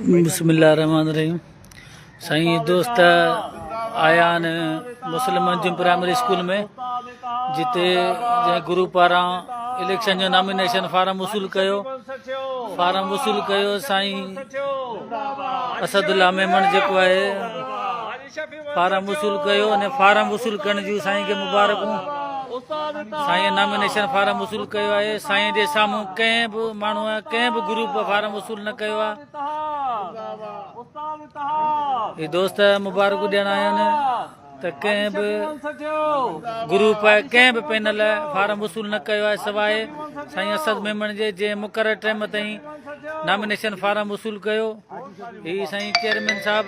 بسم الله الرحمن الرحيم سائين دوست آيا آهن مسلم منظم پرائمري اسڪول ۾ جتي جنهن گرو پاران اليڪشن جو نامينيشن فارم وصول ڪيو فارم وصول ڪيو سائين اسد الله ميمڻ جيڪو آهي فارم وصول ڪيو ۽ فارم وصول ڪرڻ جون سائين کي مبارڪون سائين نامينيشن فارم وصول ڪيو آهي سائين جي سامهون ڪنهن به ماڻهو ڪنهن به گروپ فارم وصول نه ڪيو آهي دوست مبارڪون ڏيڻ آيا آهن ته ڪنهن به گروپ ڪنهن به پينل فارم وصول نه ڪيو آهي سواء سائين اسد ميمڻ جي جنهن مقرر ٽائيم تائين نامينيشن فارم وصول ڪيو هي سائين چيئرمين صاحب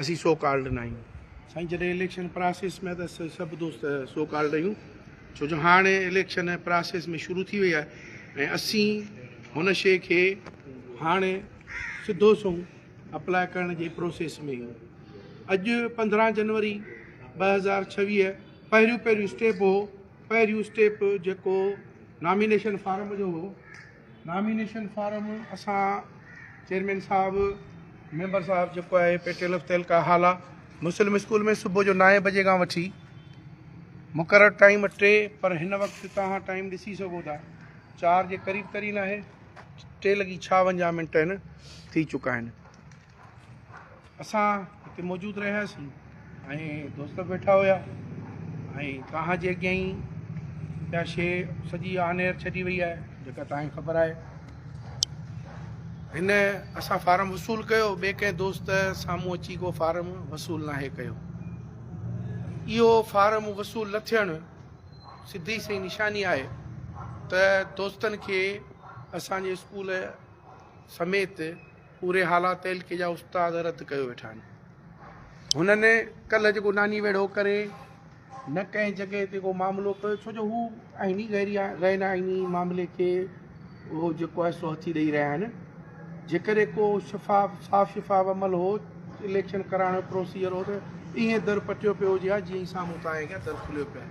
اسين سو ڪالڊ ناهيون. سائين جڏهن اليڪشن پراسيس ۾ ته اسين سڀ دوست سو ڪالڊ آهيون ڇو جو هاڻي اليڪشن پراسيس ۾ شروع ٿي وئي آهي ۽ اسين هن شي کي هاڻي سڌو سنئون اپلاء ڪرڻ جي پروسيس ۾ آهيون اڄ پندرهن جنوري ٻه هزار ڇويهه پهريون پهريون اسٽيپ هو پهريون اسٽيپ جيڪو نامينيشن فارم جو هو نامينيشن فارم اسان چيئرمين صاحب ميمبر صاحب جيڪو آهي پيٽيل آف تيلڪا هالا مسلم اسڪول ۾ صبح جو نائين بجي کان وٺي مقرر ٽائيم ٽي پر هن وقت توهان ٽائيم ڏسي سگهو ٿا چار جي قريب ترين آهي ٽي لڳي ڇاونجاهه منٽ هن ٿي چڪا آهن اسان اتي موجود رهياسين ۽ دوست ويٺا هيا ۽ توهان جي اڳيان ئي اها شي سڄي آنير ڇڏي وئي آهي جيڪا توهان کي خبر آهي هن اسان فارم وصول ڪيو ٻئي ڪنهن دوست سامهون اچي کو فارم وصول ناهي ڪيو اهو فارم وصول نه ٿيڻ سڌي سي نشاني آهي ته دوستن کي اسانجي اسڪول سميت پوري هالا تعلقي جا استاد رد ڪيو ويٺا آهن. هنن ڪلهه جيڪو ناني ويڙهو ڪري نه ڪنهن جڳهه تي ڪو معاملو ڪيو ڇو جو هو آئيني غير غين آئيني معاملي کي اهو جيڪو آهي سو هٿي ڏئي رهيا آهن جيڪڏهن ڪو شفاف صاف شفاف عمل هو اليڪشن ڪرائڻ جو پروسيجر هو ته ايئن در پٽيو پيو هجي ها جيئن سامهون تان اڳيان در کليو پيو آهي.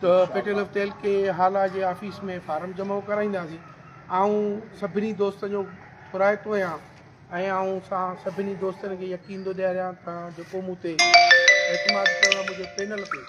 ته پيٽل اف تيل ڪي هالا جي آفيس ۾ فارم جمع ڪرائينداسين آئون سڀني دوستن جو پرائتو آهيان ۽ آئون سان سڀني دوستن کي يقين ٿو ڏياريان ته جيڪو مون تي اعتماد ڪيو آهي منهنجي پينل تي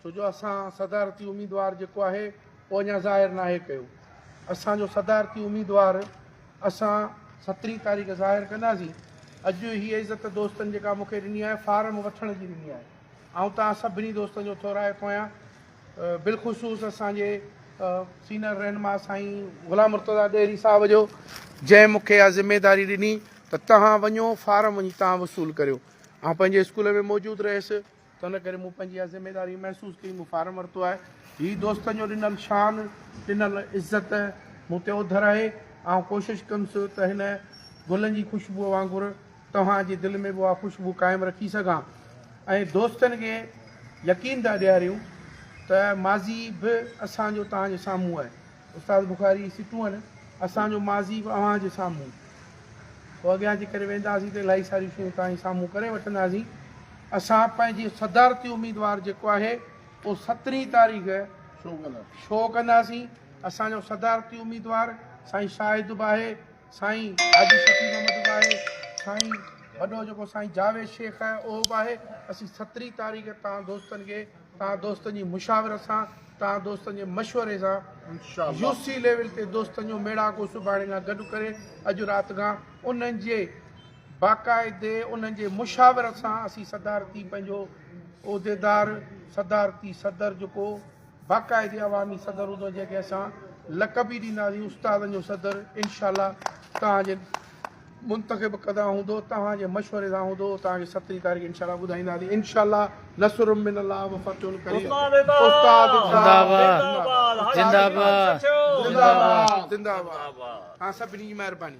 ڇو جو اسان صدارتي اميدوار جيڪو آهي اهو اڃا ظاهر ناهي ڪيو اسانجو صدارتي اميدوار اسان سترهين تاريخ ظاهر ڪنداسين اڄ هيء عزت دوستن جيڪا مونکي ڏني آهي فارم وٺڻ جي ڏني آهي آئون توهان سڀني دوستن جو ٿورائتو آهيان بالخصوص اسان جي سينئر رهنما سائين غلام مرتضا ڏيري صاحب جو جنهن مون کي اها ذميداري ڏني ته توهان وڃو فارم وڃي توهان وصول ڪريو آئون پنهنجي اسڪول ۾ موجود رهيس ته ان ڪري مون پنهنجي اها ذميداري محسوس ڪئي مون فارم ورتو آهي هي دوستن جو ڏنل شان ڏنل عزت مون تي اوڌر آهي آئون ڪوشش ڪندس ته هن گلن جي خوشبوء وانگر توهان جي دل ۾ به اها خوشبو قائم رکي سگهان ۽ دوستن کي يقين ٿا ڏياريون ته ماضي به اسان جو توهان جي سامهون آهي استاد بخاري سٽون اسان جو ماضي به اوهان جي سامهون پوء اڳيان جي ڪري وينداسين ته الائي ساريون شيون توهان جي سامهون ڪري وٺنداسين اسان پنهنجي صدارتي اميدوار جيڪو آهي اهو سترهين تاريخ شو ڪنداسين اسان جو صدارتي اميدوار سائين شاهد به آهي سائين حاجي شفيع محمد به آهي سائين وڏو جيڪو سائين جاويد شيخ آهي اهو به آهي اسين سترهين تاريخ تان دوستن کي تان دوستن جي مشاورت سان تان دوستن جي مشوري سان يو سي ليول تي دوستن جو ميڙاڪو سڀاڻي کان گڏ ڪري اڄ رات کان انهن جي باقاعدي انهن جي مشاورت سان اسين صدارتي پنهنجو عهديدار صدارتي صدر جيڪو باقاعدي عوامي صدر هوندو جنهن کي اسان لقب ئي ڏينداسين استادن جو صدر انشاء الله توهان جي منتخب ڪدا هوندو توهان جي مشوري سان هوندو توهان کي سترهين تاريخ انشاء الله ٻڌائينداسين انشاء الله نصر من الله و فتح قريب استاد زندهباد سڀني جي مهرباني